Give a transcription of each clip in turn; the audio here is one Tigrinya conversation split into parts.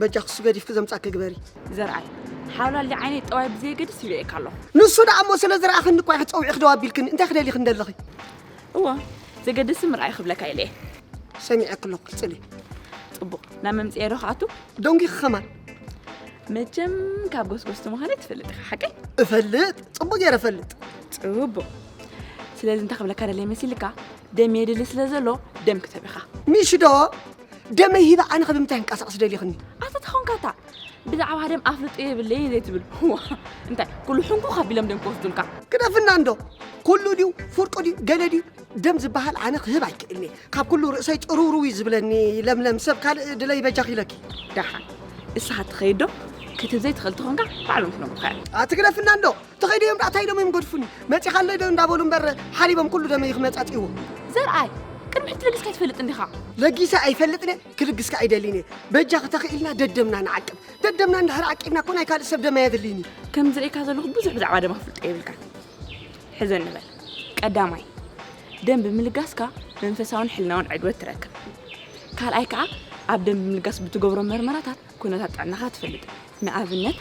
በጃ ክሱ ገዲፍኪ ዘምጻኪ ግበሪ ዘርኣይ ሓውላሊ ዓይነይ ጠዋይ ብዘየገድስ ይርእየካ ኣሎ ንሱ ደኣ እሞ ስለ ዝረኣኽኒ እኳ ኢኺ ጸዊዕኺ ደው ኣቢልክኒ እንታይ ክደሊኽን ደለኺ እዎ ዘገድስ ምርኣይ ክብለካ ኢለ ሰሚዐኪ ኣለኹ ቅጽሊ ጽቡቕ ናብ መምጽኤ ዶ ክኣቱ ደንጒኺ ከማን መቸም ካብ ጎስጎስቲ ምዃነ ትፈልጥ ኢኻ ሓቀይ እፈልጥ ጽቡቕ ገይረ እፈልጥ ጽቡቕ ስለዚ እንታይ ክብለካ ደለይ መሲልካ ደም የድሊ ስለ ዘሎ ደም ክተብ ኢኻ ሚሽ ዶ ደመይ ሂበ ኣነ ከ ብምንታይ ክንቀሳቀስ ደሊኽኒ ኣታ ተኾንካ እታ ብዛዕባ ደም ኣፍልጦ የብለይ ዘይትብል ዋ እንታይ ኩሉ ሕንኩ ካቢሎም ደም ክወስዱልካ ግደፍና እንዶ ኩሉ ድዩ ፍርቁ ድዩ ገለ ድዩ ደም ዝበሃል ኣነ ክህብ ኣይክእልኒ ካብ ኩሉ ርእሰይ ጭርውርው እዩ ዝብለኒ ለምለም ሰብ ካልእ ድለይ በጃኺ ኢለኪ ደሓን ንስኻ ትኸይድ ዶ ክትብ ዘይትኽእል ተኾንካ ባዕሎም ክነግሩኻ እዮም ኣትግደፍና እንዶ ተኸይደ እዮም ዳኣ ታይ ኢሎም እዮም ገድፉኒ መፂኻ ኣለይ ዶ እንዳበሉ እምበር ሓሊቦም ኩሉ ደመይ ክመፃፅእዎ ዘርኣይ ቅድሚ ሕጂ ለጊስካ ኣይትፈልጥን ዲኻ ለጊሰ ኣይፈልጥን እየ ክልግስካ ኣይደልይን እየ በጃኺ ተኽኢልና ደደምና ንዓቅብ ደደምና እንድሕር ዓቂብና እኮ ናይ ካልእ ሰብ ደም ኣየድልይን እዩ ከም ዝርእየካ ዘለኹ ብዙሕ ብዛዕባ ደም ኣፍልጦ የብልካን ሕዞ ንበል ቀዳማይ ደም ብምልጋስካ መንፈሳውን ሕልናውን ዕግበት ትረክብ ካልኣይ ከዓ ኣብ ደም ብምልጋስ ብትገብሮ መርመራታት ኩነታት ጥዕናኻ ትፈልጥ፣ ንኣብነት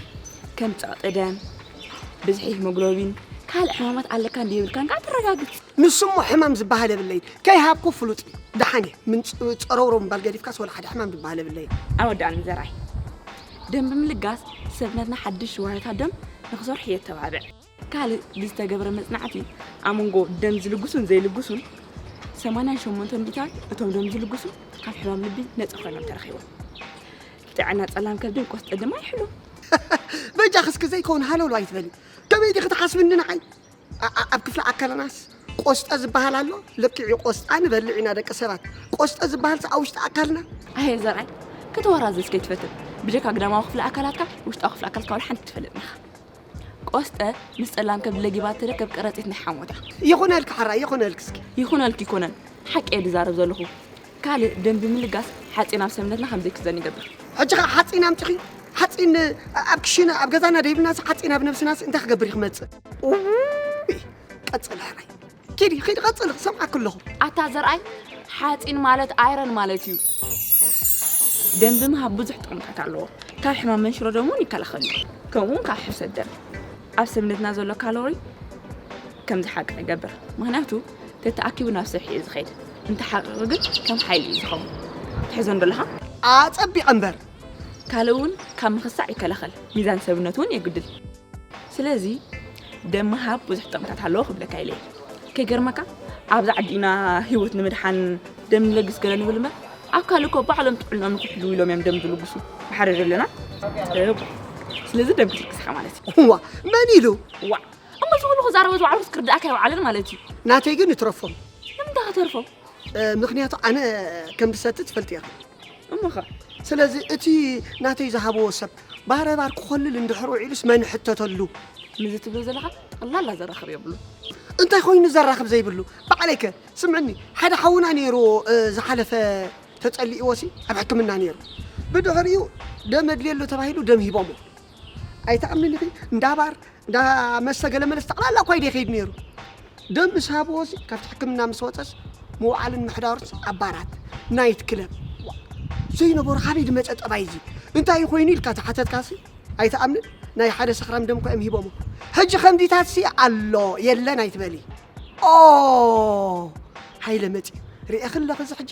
ከም ጸቕጢ ደም፣ ብዝሒ ሂሞግሎቢን፣ ካልእ ሕማማት ኣለካ እንድዩ የብልካን ከኣ ተረጋግጽ። ንሱ እሞ ሕማም ዝበሃል የብለይን፣ ከይሃብኩ ፍሉጥ እዩ። ደሓን እየ፣ ምንጽ-ጸረውረው ምባል ገዲፍካስ ወላ ሓደ ሕማም ዝበሃል የብለይን። ኣይወዳእን ዘርኣይ፣ ደም ብምልጋስ ሰብነትና ሓድሽ ዋህዮታት ደም ንኽሰርሑ የተባብዕ። ካልእ ብዝተገብረ መጽናዕቲ ኣብ መንጎ ደም ዝልግሱን ዘይልግሱን ሰማንያን ሸሞንተን ሚእታን እቶም ደም ዝልግሱ ካብ ሕማም ልቢ ነፃ ኮይኖም ተረኺቦም ጥዕና ጸላም ከብድን ቆስጠ ድማ ይሕሉ በጃ ክስኪ ዘይከውን ሃለሉ ኣይትበሊ ከመይ ዲኺ ትሓስብኒ ንዓይ ኣብ ክፍሊ ኣካለናስ ቆስጠ ዝበሃል ኣሎ ልክዒ ቆስጣ ንበልዕ ኢና ደቂ ሰባት ቆስጠ ዝበሃል ኣብ ውሽጢ ኣካልና ኣየ ዘርኣይ ከተወራዘስ ከይትፈትን ብጀካ ግዳማዊ ክፍሊ ኣካላትካ ውሽጣዊ ክፍሊ ኣካልካ ዋላ ሓንቲ ትፈልጥ ኢኻ ቆስጠ ምስ ጸላም ከብዲ ለጊባ ትርከብ ቀረጺት ናይ ሓሞታ ይኹነልኪ ሓራይ ይኹነልኪ እስኪ ይኹነልኪ ይኮነን ሓቂ እየ ድዛረብ ዘለኹ ካልእ ደም ብምልጋስ ሓፂን ኣብ ሰብነትና ከም ዘይክዘን ይገብር ሕጂ ከዓ ሓፂን ኣምፂኺ ሓፂን ኣብ ክሽነ ኣብ ገዛና ደይብልናስ ሓፂን ኣብ ነብስናስ እንታይ ክገብር እዩ ክመፅእ ቀፅል ሕራይ ኪዲ ኪዲ ቀጽሊ ክሰምዓኪ ኣለኹ። ኣታ ዘርኣይ ሓጺን ማለት ኣይረን ማለት እዩ። ደም ብምሃብ ብዙሕ ጥቕምታት ኣለዎ። ካብ ሕማም መንሽሮ ደም እውን ይከላኸል እዩ። ከምኡውን ካብ ሕርሰት ደም ኣብ ሰብነትና ዘሎ ካሎሪ ከም ዝሓቅቕ ይገብር። ምክንያቱ ተተኣኪቡ ናብ ስርሒ እዩ ዝኸይድ። እንተሓቂቑ ግን ከም ሓይሊ እዩ ዝኸውን። ትሕዞን ደለኻ? ኣጸቢቐ እምበር። ካልእ እውን ካብ ምኽሳዕ ይከላኸል። ሚዛን ሰብነት እውን የጉድል። ስለዚ ደም ምሃብ ብዙሕ ጥቕምታት ኣለዎ ክብለካ ኢለ ከይገርመካ ኣብዚ ዓዲ ኢና ህይወት ንምድሓን ደም ንለግስ ገለ ንብል እምበር ኣብ ካልእ እኮ ባዕሎም ጥዕናኦም ንክሕልው ኢሎም እዮም ደም ዝልግሱ ብሓደ ዘለና ስለዚ ደም ክትልግስ ኢኻ ማለት እዩ ዋ መን ኢሉ ዋ እሞ እዚ ኩሉ ክዛረበ ዝውዓሉ ክስክርዳእካ ይውዓለን ማለት እዩ ናተይ ግን ይትረፎም ንምንታይ ከተርፎም ምክንያቱ ኣነ ከም ዝሰቲ ትፈልጥ እያ እሞኸ ስለዚ እቲ ናተይ ዝሃብዎ ሰብ ባረባር ክኾልል እንድሕር ውዒሉስ መን ሕተተሉ? ከምዚ ትብሎ ዘለኻ ጠቕላላ ዘራኽብ የብሉን። እንታይ ኮይኑ ዘራኽብ ዘይብሉ? ባዕለይ ከ ስምዕኒ ሓደ ሓውና ነይሩ ዝሓለፈ ተጸሊእዎሲ ኣብ ሕክምና ነይሩ ብድሕሪኡ ደም ኣድልየሉ ተባሂሉ ደም ሂቦሞ ኣይትኣምንን ኢኺ እንዳ ባር እንዳ መስተ ገለ መለስ ጠቕላላ እኳ ኢደ ይኸይድ ነይሩ ደም ምስ ሃብዎሲ ካብቲ ሕክምና ምስ ወፀስ ምውዓልን ምሕዳሩስ ኣብ ባራት ናይት ክለብ ዘይነበሮ ካበይ ዝመፀ ጠባይ እዚ እንታይ ኮይኑ ኢልካ ተሓተትካሲ ኣይትኣምንን ናይ ሓደ ሰኽራም ደም እኳ እዮም ሂቦሞ ሕጂ ከምዚታትሲ ኣሎ የለን ኣይትበሊ ኦ ሃይለ መፂኡ ርኤኺ ኣለኺ እዚ ሕጂ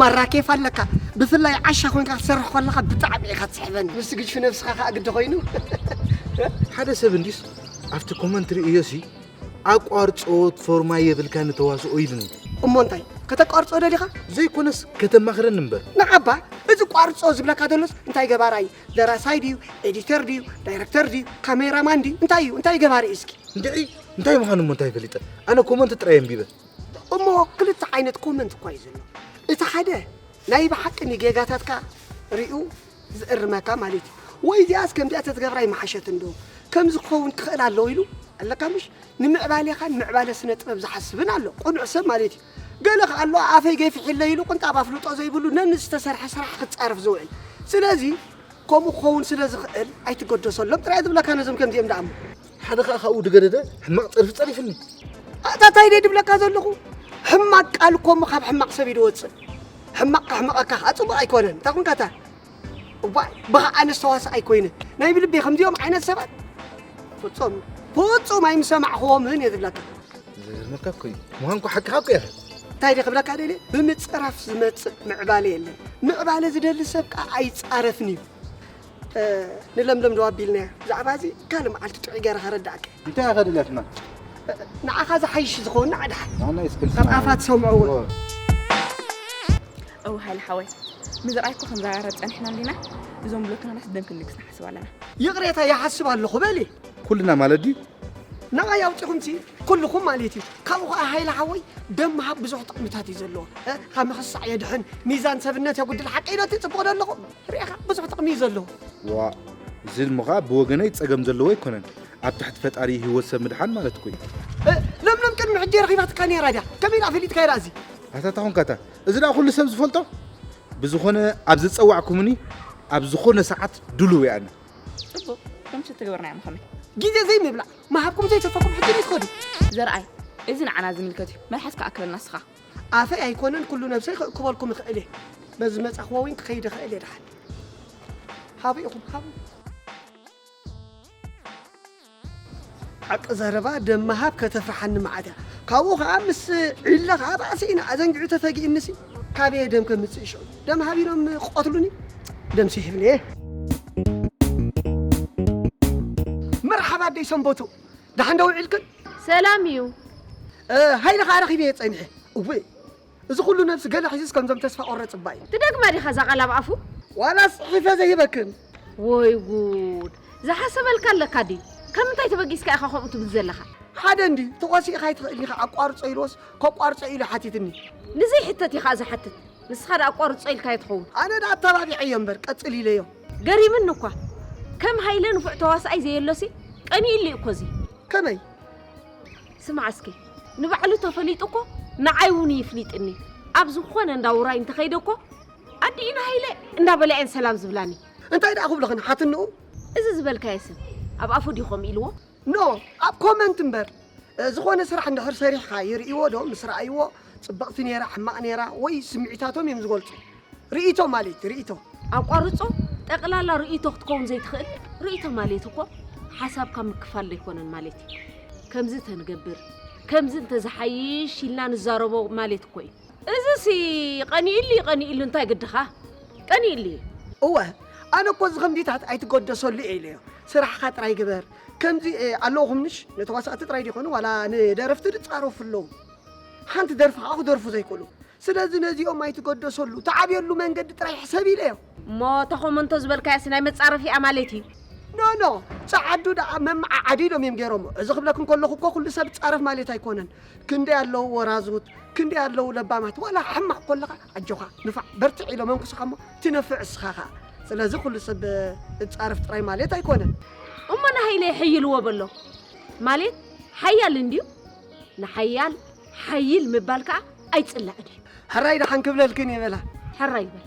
ማራ ኬፍ ኣለካ ብፍላይ ዓሻ ኮንካ ክትሰርሕ ኮለካ ብጣዕሚ ኢካ ትስሕበኒ ምስ ግጅፊ ነብስካ ከኣ ግዲ ኮይኑ ሓደ ሰብ እንዲስ ኣብቲ ኮመንት ርእዮሲ ኣቋርጾ ፎርማ የብልካን ተዋስኦ ኢሉኒ እሞ እንታይ ከተቋርጾ ደሊኻ ዘይኮነስ ከተማኽረኒ እምበር ንዓባ እዚ ቋርጾ ዝብለካ ዘሎስ እንታይ ገባራ እዩ ደራሳይ ድዩ ኤዲተር ድዩ ዳይረክተር ድዩ ካሜራማን ድዩ እንታይ እዩ እንታይ ገባሪ እዩ እስኪ እንድዒ እንታይ ምዃኑ እሞ እንታይ ፈሊጠ ኣነ ኮመንት ጥራይ ኣንቢበ እሞ ክልተ ዓይነት ኮመንት እኳ እዩ ዘሎ እቲ ሓደ ናይ ብሓቂ ንጌጋታትካ ሪኡ ዝእርመካ ማለት እዩ ወይ እዚኣስ ከምዚኣ ተትገብራ ይመሓሸት እንዶ ከምዚ ክኸውን ክኽእል ኣለዎ ኢሉ ኣለካ ምሽ ንምዕባሌኻን ምዕባለ ስነ ጥበብ ዝሓስብን ኣሎ ቁኑዕ ሰብ ማለት እዩ ገለ ከዓ ኣሎ ኣፈይ ገፊሒለይ ኢሉ ቅንጣብ ኣፍልጦ ዘይብሉ ነንዝተሰርሐ ስራሕ ክፃረፍ ዝውዕል ስለዚ ከምኡ ክኸውን ስለ ዝኽእል ኣይትገደሰሎም ጥራይ ዝብለካ ነዞም ከምዚኦም ደኣ እሞ ሓደ ከዓ ካብኡ ድገደደ ሕማቕ ፀርፊ ፀሪፍኒ ኣታ እንታይ ደይ ድብለካ ዘለኹ ሕማቅ ቃል እኮ እሞ ካብ ሕማቅ ሰብ እዩ ድወፅእ ሕማቅ ካሕመቀካ ከዓ ፅቡቅ ኣይኮነን እንታይ ኮንካ እታ እባ ብኻ ኣነስ ተዋሳእ ኣይኮይነ ናይ ብልቤ ከምዚኦም ዓይነት ሰባት ፍፁም ፍፁም ኣይምሰማዕኽዎምን እየ ዝብለካ ዝገርመካ እኮ እዩ ምዃንኩ ሓቅኻ እኮ እያ እንታይ ደ ክብለካ ደልየ ብምፅራፍ ዝመፅእ ምዕባለ የለን ምዕባለ ዝደሊ ሰብ ከዓ ኣይፃረፍን እዩ ንለምለም ዶ ኣቢልናያ? ብዛዕባ እዚ ካልእ መዓልቲ ጥዑይ ገይረ ከረድኣካ እየ። እንታይ ኢኻ ደልያ ትማል? ንዓኻ ዝሓይሽ ዝኸወና ኣድሓ ካብ ኣፋ ትሰምዖ እውን እው ሃይለ ሓወይ ምዝራይ እኮ ከምዛራ ፀኒሕና እንዲና እዞም ብሎክናናስ ደም ክንልግስ ንሓስብ ኣለና ይቕሬታ ይሓስብ ኣለኹ በሊ ኩልና ማለት ድዩ ንዓይ ኣውፂኹምሲ ኩልኹም ማለት እዩ ካብኡ ከዓ ሃይለ ሓወይ ደም ምሃብ ብዙሕ ጥቕምታት እዩ ዘለዎ ካብ ምኽሳዕ የድሕን ሚዛን ሰብነት የጉድል ሓቀይነቲ ፅቡቕ ዶ ኣለኹ ርኢኻ ብዙሕ ጥቕሚ እዩ ዘለዎ። ዋእ እዚ እሞ ኸኣ ብወገነይ ጸገም ዘለዎ ኣይኮነን። ኣብ ትሕቲ ፈጣሪ ህይወት ሰብ ምድሓን ማለት እኮ እዩ። እ፣ ለምለም ቅድሚ ሕጂ ረኺባትካ ነይራ ድያ ከመይ ደኣ ፈሊጥካዮ ደኣ እዚ ኣታ እታ ኾንካ እታ እዚ ደኣ ኩሉ ሰብ ዝፈልጦ ብዝኾነ ኣብ ዝጸዋዕኩምኒ ኣብ ዝኾነ ሰዓት ድሉው እየ ኣነ ጽቡቕ ከምቲ እትገብርና እዮም ከመይ ግዜ ዘይምብላዕ ምሃብኩም ዘይተፈኩም ሕጂ ደይ ትኸዱ ዘርኣይ እዚ ንዓና ዝምልከት እዩ መልሓስካ ኣክለልና እስኻ ኣፈይ ኣይኮነን ኩሉ ነብሰይ ክእክበልኩም እኽእል እየ በዚ ዝመጻኽዎ ዊን ክኸይድ እኽእል እየ ድሓን ሃቡ ኢኹም ሃቡ ሓቂ ዘረባ ደማ ሃብ ከተፍርሓኒ መዓት እያ ካብኡ ከዓ ምስ ዒለ ከዓ ባእሲ ኢና ኣዘንጊዑ ተፈጊእንሲ ካበየ ደም ከምፅእ ሽዑ ደም ሃብ ኢሎም ክቐትሉኒ ደም ስሒብኒ እየ መርሓባ ኣደይ ሰንበቱ ደሓን ዶ ውዒልክን? ሰላም እዩ። ሃይለ ከኣ ረኺበዮ ጸኒሐ። እውይ እዚ ኩሉ ነብሲ ገለ ሒዙስ ከምዞም ተስፋ ቆረጽ እባ እዩ። ትደግማ ዲኻ እዛ ቃል ኣብ ኣፉ? ዋላስ ጽሒፈ ዘይህበክን? ወይ ጉድ ዝሓሰበልካ ኣለካ ድዩ ካብ ምንታይ ተበጊስካ ኢካ ከምኡ ትብል ዘለካ። ሓደ እንድዩ ተኮሲእካ ኣይትክእልን ኢካ ኣቋርጾ ኢልዎስ ከቋርጾ ኢሉ ሓቲትኒ። ንዘይሕተት ኢካ ዝሓትት ንስካ ድኣ ኣቋርጾ ኢልካዮ ትከውን። ኣነ ድኣ ኣተባቢዐዮ እምበር ቀጽል ኢለዮ። ገሪምኒ እኳ ከም ሃይለ ንፉዕ ተዋስኣይ ዘየሎሲ ቀኒኡሉ እዩ እኮ እዚ ከመይ ስማዕ እስኪ ንባዕሉ ተፈሊጡ እኮ ንዓይ እውን ይፍሊጥኒ ኣብ ዝኾነ እንዳ ውራይ እንተኸይደ እኮ ኣዲኡ ንሃይለ እንዳበላ እየን ሰላም ዝብላኒ እንታይ ደኣ ክብልኽን ሓትንኡ እዚ ዝበልካዮ ሰብ ኣብ ኣፉ ድዩ ከምኡ ኢልዎ No ኣብ ኮመንት እምበር ዝኾነ ስራሕ እንድሕር ሰሪሕኻ ይርእይዎ ዶ ምስ ረኣይዎ ጽብቕቲ ኔራ ሕማቕ ኔራ ወይ ስምዒታቶም እዮም ዝገልጹ ርእይቶ ማልት ርእይቶ። ኣቋርጾ ጠቅላላ ርእይቶ ክትከውን ዘይትኽእል ርእይቶ ማልት እኮ ሓሳብካ ምክፋል ዘይኮነን ማልት እዩ ከምዚ እንተንገብር ከምዚ እንተዝሓይሽ ኢልና ንዛረቦ ማልት እኮ እዩ። እዚሲ ቀኒኡሉ እዩ ቀኒኡሉ እንታይ ግድኻ ቀኒኡሉ እዩ። እወ ኣነ እኮ እዚ ከምዚታት ኣይትገደሰሉ እየ ኢለዮ ስራሕኻ ጥራይ ግበር ከምዚ ኣለኹም ምሽ ንተዋሳእቲ ጥራይ ዘይኮኑ ዋላ ንደረፍቲ ዝጻረፉ ኣለዉ ሓንቲ ደርፊ ከኣ ክደርፉ ዘይክእሉ ስለዚ ነዚኦም ኣይትገደሰሉ ትዓብየሉ መንገዲ ጥራይ ሕሰብ ኢለዮ። እሞ እታ ኮመንቶ ዝበልካያስ ናይ መጻረፊኣ ማለት እዩ? ኖ ኖ ጸዓዱ ደኣ መመዓዓዲ ኢሎም እዮም ገይሮሞ። እዚ ክብለክን ከለኹ እኮ ኩሉ ሰብ ይጻረፍ ማለት ኣይኮነን። ክንደይ ኣለዉ ወራዙት፣ ክንደይ ኣለዉ ለባማት ዋላ ሕማቕ ኮለኻ ኣጆኻ ንፋዕ በርትዕ ኢሎም የንኩሱኻ እሞ ትነፍዕ እስኻ ከኣ። ስለዚ ኩሉ ሰብ እጻረፍ ጥራይ ማለት ኣይኮነን። እሞ ንሃይለ የሐይልዎ በሎ ማሌት ሓያል እንድዩ ንሓያል ሓይል ምባል ከኣ ኣይጽላእን እዩ። ሕራይ ደሓን ክብለልክን እየ በላ። ሕራይ በል።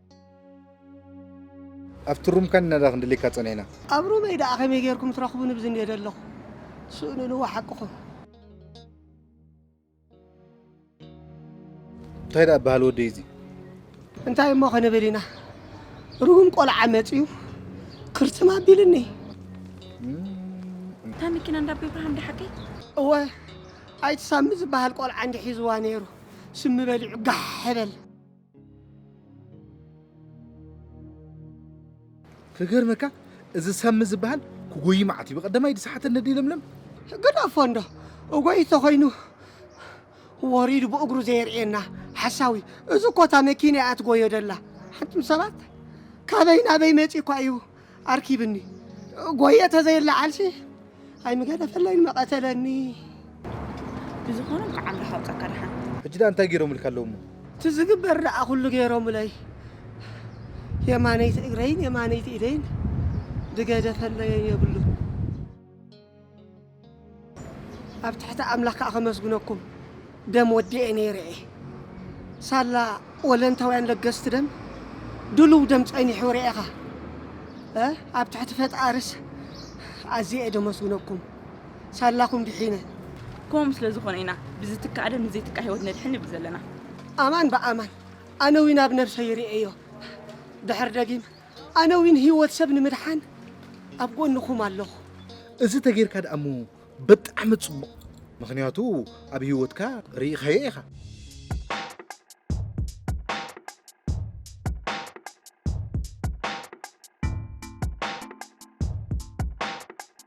ኣብቲ ሩምካ ንናዳ ክንድልየካ ጸኒሕና። ኣብ ሩመይ ደኣ ከመይ ጌርኩም ትረኽቡኒ ብዝንዮ ደለኹ። ስእንንዎ ሓቅኹም። እንታይ ደኣ በሃል ወደይ እዚ። እንታይ እሞ ክንብል ኢና ሩም ቆልዓ መጽዩ ክርትም ኣቢልኒ። እታ መኪና እንዳ ኣቤ ብርሃን ድያ ሓቀይ? እወ ኣይቲ ሳሚ ዝበሃል ቆልዓ እንድዩ ሒዝዋ ኔሩ ስሚ በሊዑ ጋሕ በል። ክገርመካ እዚ ሰሚ ዝበሃል ክጎይ መዓት እዩ በቀደማይ ድሰሓተ ነዲ ለምለም ገዳፎ እንዶ እጎይ ተኮይኑ ወሪዱ ብእግሩ ዘየርእየና ሓሳዊ እዚ ኮታ መኪና እያ ትጎዮ ደላ ሓንቱም ሰባት ካበይ ናበይ መፂ እኳ እዩ ኣርኪብኒ ጎየ ተዘይለዓልሲ ኣይምገደፈለይን መቐተለኒ ብዝኾነ እንኳዕ ኣምላኽ ኣውፀካ ድሓን ሕጂ ዳ እንታይ ገይሮምልካ ኣለዉ እሞ እቲ ዝግበር ደኣ ኩሉ ገይሮምለይ የማነይቲ እግረይን የማነይቲ ኢደይን ድገደፈለየን የብሉ ኣብ ትሕቲ ኣምላኽ ከኣ ከመስግነኩም ደም ወዲኤ ነይረ እየ። ሳላ ወለንታውያን ለገስቲ ደም ድሉው ደም ጸኒሑ ርኤኻ እ ኣብ ትሕቲ ፈጣርስ ኣዝየ እየ ደመስግነኩም ሳላኹም ድሒነ። ከምኡ ስለ ዝኾነ ኢና ብዝትካእ ደም ንዘይትካእ ህይወት ነድሕን ንብል ዘለና። ኣማን ብኣማን ኣነ እውን ኣብ ነብሰይ ርኤዮ ድሕሪ ደጊም ኣነ ዊን ሂወት ሰብ ንምድሓን ኣብ ጎንኹም ኣለኹ። እዚ ተገይርካ ድኣ እሞ ብጣዕሚ ጽቡቕ ምኽንያቱ ኣብ ሂወትካ ርኢኻዮ ኢኻ።